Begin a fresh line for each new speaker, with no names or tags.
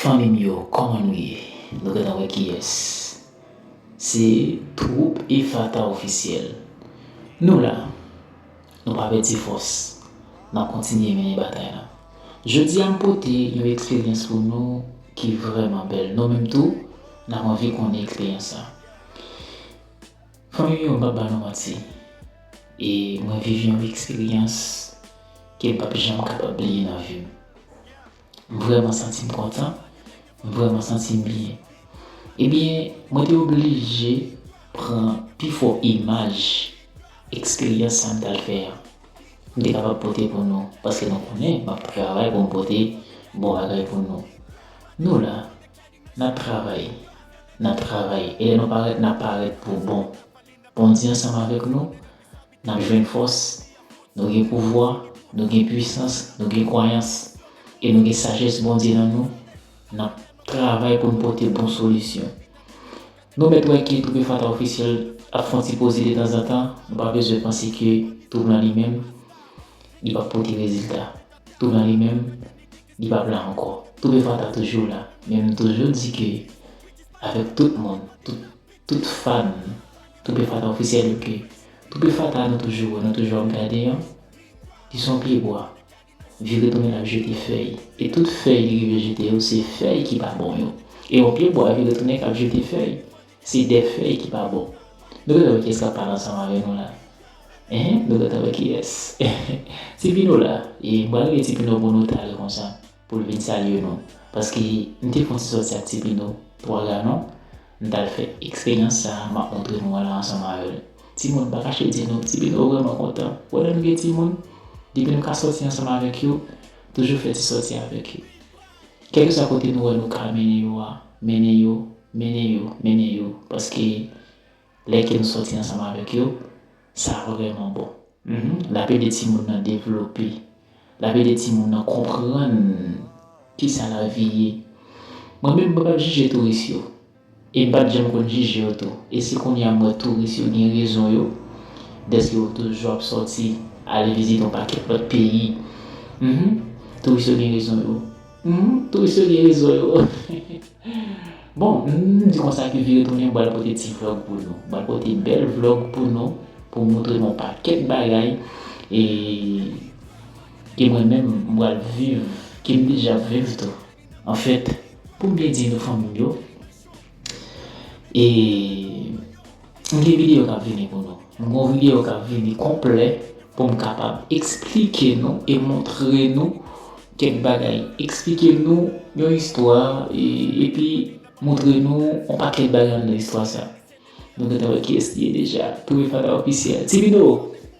Fanmim yo kòman nou ye nou gentan wè kiyès se twoup efata ofisyèl nou la nou pa pèdi fòs nap kontinye mennen batay la jodi a m pote yon eksperyans pou nou ki vrèman bèl nou menm tou nap anvi konnen eksperyans sa fanmim yo m pap ba nou manti e mwen viv yon eksperyans kem pap janm kapab bliye nan vim. M vrèman santi m kontan, m vrèman santi m byen. Ebyen, mwen te oblije pran pi fò imaj eksperyans sa m t al fè an. M te kapab pote pou nou, paske nou konnen m ap travay pou m pote bon bagay pou nou. Nou la, n ap travay, n ap travay, e lè nou parèt n ap parèt pou bon. Bondye ansanm avèk nou, N ap jwenn fòs. Nou gen pouvwa, nou gen puisans, nou gen kwayans, e nou gen sajès Bondye nan nou, n ap travay pou n pote bon solisyon. Nou mèt wè ke Troupe Fata Officiel ap fon ti poze detanzantan, nou pa bezwen panse ke Troupe lan li menm, li p ap pote rezilta. Troupe lan li menm, li p ap la ankò. Troupe Fata toujou la, men m toujou di ke avèk tout moun, tout. Tout fan toupefata officiel yo ke toupefata nou toujou nou toujou ap gade an li son pye bwa vire tounen lap jete fèy e tout fèy li rive jete yo se fèy ki pa bon yo e yon pye bwa vire tounen kap jete fèy se de fèy ki pa bon nou gentan wè kiyès kap pale ansanm avè nou la hein nou gentan wè kiyès ti pino la e m pral rele ti pino pou nou talè konsa. pou l vin salye nou paske m te fon ti sòti ak ti pino 3 galon m t al fè eksperyans sa a m ap montre nou an la ansanm avè l timoun m pa kache di nou ti pino vrèman kontan wè lè nou gen timoun depi nou ka sòti ansanm avèk yo toujou fè ti sòti avèk yo kèlkeswa kote nou wè nou ka mennen yo a mennen yo mennen yo mennen yo paske Lè ke nou sòti ansanm avèk yo, sa vrèman bon. L ap ede timoun nan devlope. L ap ede timoun nan konprann kisa lavi ye. Mwen menm, mwen pa t jije touris yo. E m pa t janm konn jije yo tou. E se kounye a m wè touris yo gen rezon yo, dèske yo toujou ap sòti ale vizite yon pakèt lòt peyi. Touris yo gen rezon yo. Humm touris yo gen rezon yo bon humm di konsa ke vire tounen bal pote ti vlog pou nou bal pote bèl vlog pou nou pou moutre nou pakèt bagay e ke mwen menm m bal viv kem deja ap viv tou anfèt poum byen di nou fanmim yo E m gen videyo k ap vini pou nou. M gen yon videyo k ap vini konplè pou m kapab esplike nou e montre nou kèk bagay. Esplike nou yon istwa epi montre nou yon pakèt bagay anndan istwa sa. Nou gen tan wè kiyès li ye deja. Premye fada ofisyèl. Ti Bido!